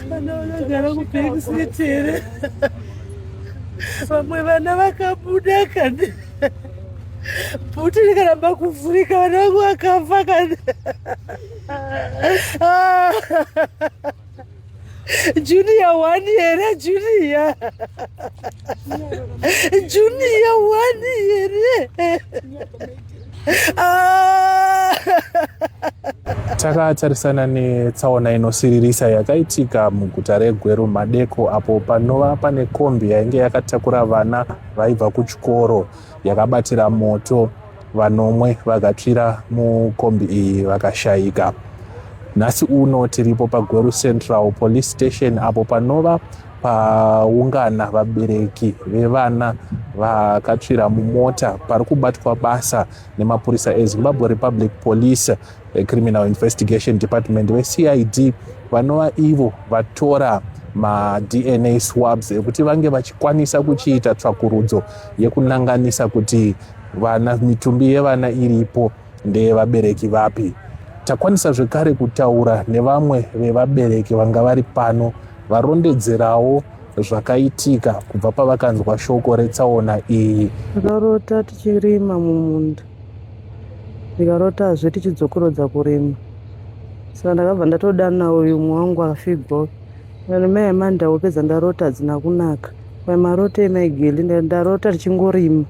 Vana vanogara kubackseat here? Vamwe vana vakabuda kani? Bhuti rikaramba kuvhurika vana vangu vakafa kani? Junior one here, Junior. Junior one here. Takatarisana netsaona inosiririsa yakaitika muguta reGweru madeko apo panova pane kombi yainge yakatakura vana vaibva kuchikoro yakabatira moto vanomwe vakatsvira mukombi iyi vakashayika. Nhasi uno tiripo paGweru Central Police Station apo panova paungana vabereki vevana vakatsvira mumota pari kubatwa basa nemapurisa ezimbabwe republic police criminal investigation department vecid vanova ivo vatora madna swabs ekuti vange vachikwanisa kuchiita tsvakurudzo yekunanganisa kuti vana mitumbi yevana iripo ndeyevabereki vapi takwanisa zvekare kutaura nevamwe vevabereki vanga vari pano Varondedzerawo zvakaitika kubva pavakanzwa shoko retsaona iyi. Ndakarota tichirima mumunda ndikarotazve tichidzokorodza kurima saka ndakabva ndatodana uyu umwe wangu akafigwa uyu mai amanda wopedza ndarota hadzina kunaka mai maroto emai geli ndarota tichingorima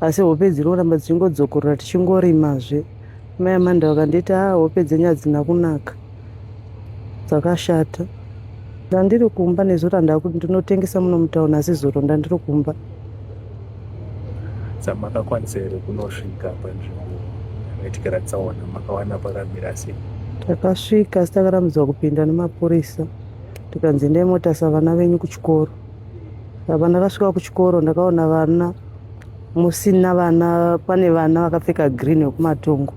asi hope dziri kuramba dzichingodzokorora tichingorimazve mai amanda vakandiita a ah, hope dzenyu hadzina kunaka dzakashata ndandiri kumba nezuro ndakuti ndinotengesa muno mutauni asi zuro ndandiri kumba samakakwanisa here kunosvika panzvimbo yaitikira tsaona makawana pakamira sei takasvika asi takarambidzwa kupinda nemapurisa tikanzi ndai motasa vana venyu kuchikoro apa ndakasvika kuchikoro ndakaona vana musina vana pane vana vakapfeka green vekumatongo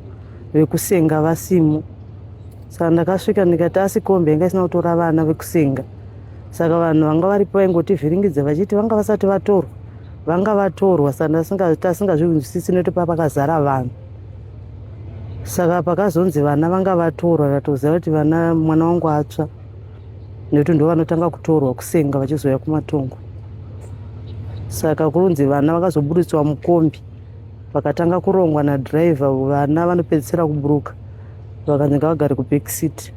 vekusenga vasimo saka ndakasvika ndikati asi kombi yanga isina kutora vana vekusinga saka vanhu vanga varipo vaingotivhiringidza vachiti vanga vasati vatorwa vanga vatorwa saka tasingazvinzwisisi nekuti papakazara vanhu saka pakazonzi vana vanga vatorwa tatoziva kuti vana mwana wangu atsva nekuti ndo vanotanga kutorwa kusenga vachizouya kumatongo saka kurunzi vana vakazoburitswa mukombi vakatanga kurongwa nadriver vana vanopedzisira kuburuka vakanyanga vagari kuback seat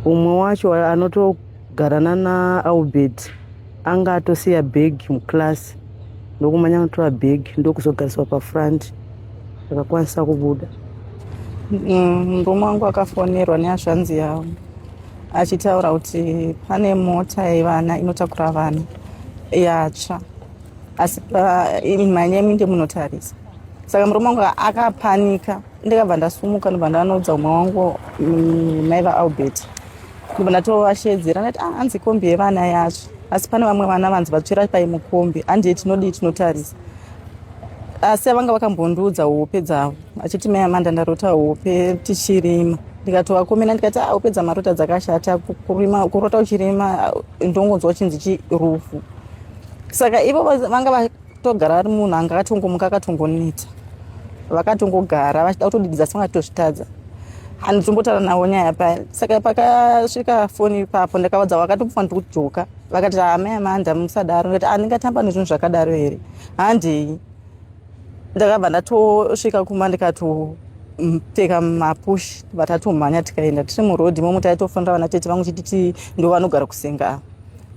umwe wacho anotogarana naalbert anga atosiya bag muclass ndokumanya anotora bag ndokuzogariswa pafront akakwanisa kubuda mm, murume wangu akafonerwa nehazvanzi yavo achitaura kuti pane mota yevana inotakura vana yatsva asi manyemi ndemunotarisa saka murume wangu akapanika ndikabva ndasumuka ndobva ndanoudza umwe wangu mm, mai vaalbert ndobva ndatovashedzera ndati ah, hanzi kombi yevana yacho asi pane vamwe vana vanzi vatsvira pai mukombi handiye tinodii tinotarisa asi avanga vakambondiudza hope dzavo achiti mai amanda ndarota hope tichirima ndikatovakomena ndikati ah, hope dzamarota dzakashata kurota uchirima ndongonzwa uchinzi chirufu saka ivo vanga vatogara vari munhu anga akatongomuka akatongoneta vakatongogara vachida kutodididza sanga tozvitadza handitombotaura navo nyaya paya saka pakasvika foni ipapo ndakavadza vakatofa ndikujoka vakati hama yamanda musadaro ndikati andingatamba ah, nezvinhu zvakadaro here handei ndakabva ndatosvika kuma ndikato pfeka mapush vatatomhanya tikaenda tiri muroad imomo taitofonera vana tete vangu chititi ndo vanogara kusenga ava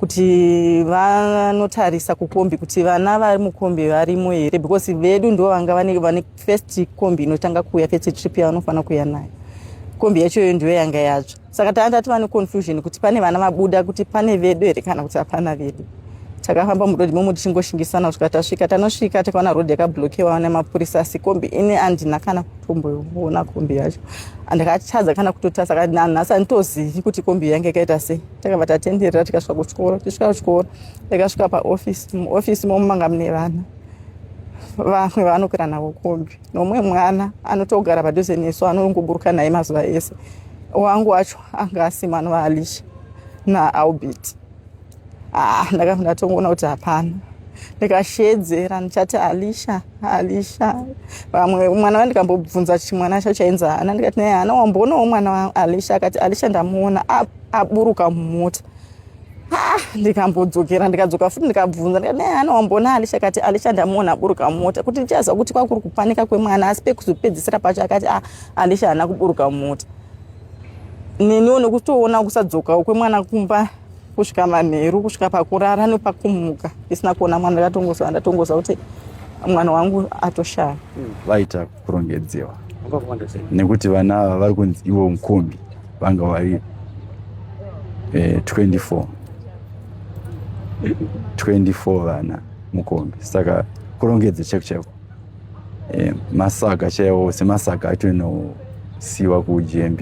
kuti vanotarisa kukombi kuti vana vari mukombi varimo here because vedu ndo vanga vane first kombi inotanga kuuya first trip yavanofanira kuuya nayo kombi yacho iyo ndiyo yanga yatsva saka tanga tati vane confusion kuti pane vana vabuda kuti pane vedu here kana kuti hapana vedu takafamba murodi momo tichingoshingisana kusvika tasvika tanosvika takaona rodi yakablokewa nemapurisa asi kombi ini andina kana kutomboona kombi yacho andakatadza kana kutotasa kanhasi anditozivi kuti kombi yange ikaita sei takabva tatenderera tikasvika kuchikoro tichisvika kuchikoro takasvika paofisi muofisi momo manga mune vana vamwe vanokwira navo kombi nomwe mwana anotogara padhuze nesu anongoburuka naye mazuva ese wangu wacho anga asimano vaalisha naalbert ah, ndakabva ndatongoona kuti hapana ndikashedzera ndichati alisha alisha vamwe mwana vandikambobvunza chimwana chacho chainzi hana ndikati naye hana wamboonawo mwana waalisha akati alisha ndamuona apo aburuka mumota ah, ndikambodzokera ndikadzoka futi ndikabvunza ndikadana wambona alisha kati alisha ndamuona aburuka mumota kuti ndichaziva kuti kwakuri kupanika kwemwana asi pekuzopedzisira pacho akati ah, alisha haana kuburuka mumota neniwo nekutoona kusadzokawo kwemwana kumba kusvika manheru kusvika pakurara nepakumuka isina kuona mwana ndakatongoziva ndatongoziva kuti mwana wangu atoshaya vaita kurongedzewa nekuti vana ava vari kunzi ivo mukombi vanga vari 24 eh, 24 vana mukombi saka kurongedza cheko cheko eh, masaga chaiwo semasaga acho inosiwa kugmb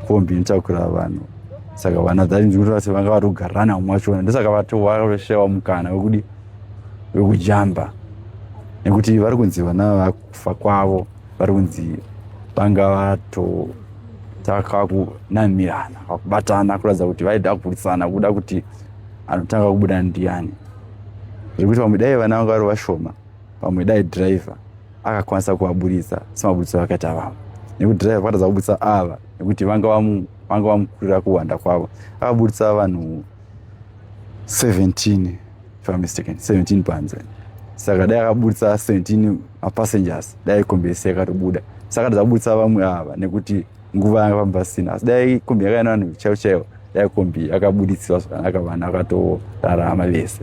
kombi inotakura vanhu saka vana dzainzwirira se vanga vari kugarana mwacho ndosaka vatowaveshewa mukana wekudi wekujamba nekuti vari kunzi vana vakufa kwavo vari kunzi vanga vatotaka kunamirana vakubatana kuratidza kuti vaida kugurisana kuda kuti anotanga kubuda ndiyani zvekuti vamwe dai vana vanga vari vashoma vamwe dai driver akakwanisa kuvaburitsa semaburitso vakaita vamwe nekuti driver vakatadza kuburitsa ava nekuti vanga vamukurira kuwanda kwavo akaburitsa vanhu 17 if I'm mistaken 17 panze saka dai akaburitsa 17 mapassengers dai kombi yese yakatobuda saka dazabudisa vamwe ava nekuti nguva yanga pamba sina asi dai kombi yakaenda vanhu chaivo chaivo dai kombi yakabuditsiwa zvakanaka vanhu vakatorarama vese